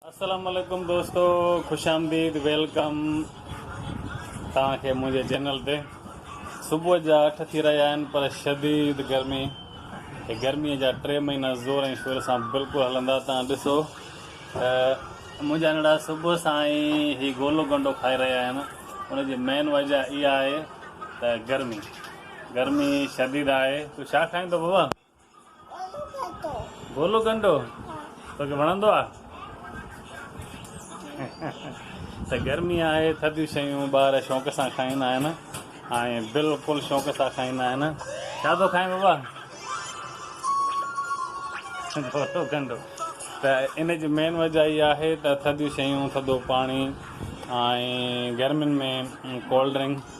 السلام عليڪم دوستو خوش آمديد ويلڪم توهان کي منهنجي چينل تي صبح جا اٺ ٿي رهيا آهن پر شديد گرمي هي گرمي جا ٽي مهينا زور ۽ شور سان بلڪل هلندا توهان ڏسو ته منهنجا ننڍا صبح سان ئي هي گولو گنڊو کائي رهيا آهن ان جي مين وجه اها آهي ته گرمي گرمي شديد آهي تو ڇا کائيندو بابا گولو ڪنڊو توکي وڻندو آ ته گرمي آهي ٿڌيون شيون ٻار شوق سان کائيندا آهن ۽ بلڪل شوق سان کائيندا آهن ڇا ٿو کائين بابا گولو ڪنڊو ته ان جي مين وجہ اها آهي ته ٿڌيون شيون ٿڌو پاڻي ۽ گرمين ۾ ڪولڊ ڊرنڪ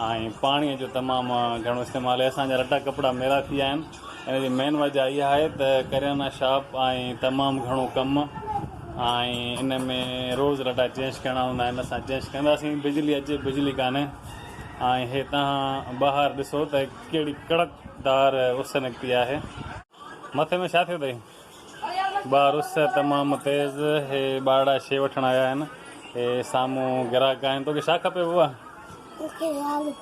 ۽ پاڻيء جو تمام گهڻو استعمال آهي. اسان جا رٽا ڪپڙا ميرا ٿي ويا آهن. ان جي مين وجهه اها آهي ته ڪريانا شاپ ۽ تمام گهڻو ڪم ۽ ان ۾ روز رٽا چينج ڪرڻا هوندا آهن. اسان چينج ڪنداسين. بجلي اچي بجلي ڪانهي ۽ هي تهان ٻاهر ڏسو ته ڪهڙي ڪڙڪ دار اس نڪتي آهي. مٿي ۾ ڇا ٿيو اٿئي؟ ٻار اس تمام تيز هي ٻارڙا شي وٺڻ آيا آهن هي سامهون گراهڪ آهن توکي ڇا کپي بوبا مونکي آلو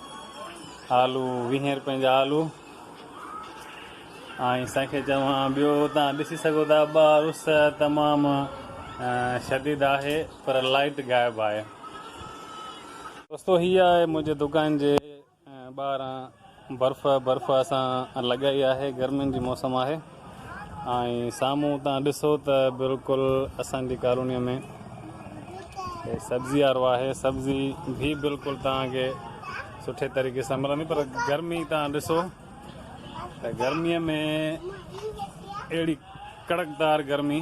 آلو ويهين روپين جا آلو ۽ سائين کي چوان ٻيو تان ڏسي سگهو ٿا ٻار اس تمام شديد آهي پر لائيٽ غائب آهي دوستو هي آهي منهنجي دڪان جي ٻاهران برف برف اسان لڳائي آهي گرمين جي موسم آهي ۽ سامهون تان ڏسو ته بلڪل اسان جي ڪالوني ۾ سبزي وارو آهي سبزي به بلڪل تان کي سٺي طريقي سان ملندي پر گرمي تان ڏسو ته گرمي ۾ اهڙي ڪڙڪدار گرمي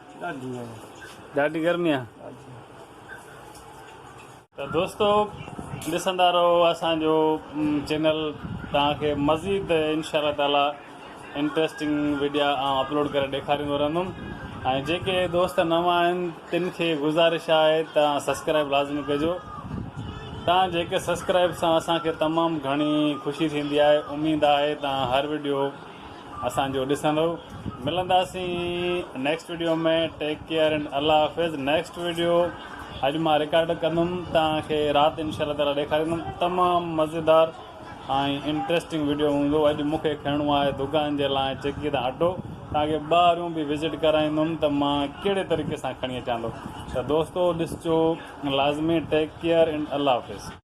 ڏاڍي گرمي آ ته دوستو ڏسندا رهو اسان جو چينل توهان کي مزيد انشاء الله تعالي انٽريسٽنگ ويڊيا آئون اپلوڊ ڪري ڏيکاريندو رهندم ۽ جيڪي دوست نوان آهن تن کي گذارش آهي ته سبسڪرائب لازمي ڪجو توهان جيڪي سبسڪرائب سان اسان کي تمام گهڻي خوشي ٿيندي آهي اميد آهي توهان هر ويڊيو اسان جو ڏسندو ملنداسين next video ۾ take care and الله حافظ نيڪسٽ ويڊيو اڄ مان رڪارڊ ڪندم توهان کي رات انشاء الله تعالي ڏيکاريندم تمام مزيدار ۽ انٽرسٽنگ ويڊيو هوندو اڄ مون کي کڻڻو آهي دڪان جي لاء چڪي تان اٽو توهان کي ٻاهريون به وزٽ ڪرائيندم ته مان ڪهڙي طريقي سان کڻي اچان ٿو ته دوستو ڏسجو لازمي ٽيڪ ڪيئر اينڊ الله حافظ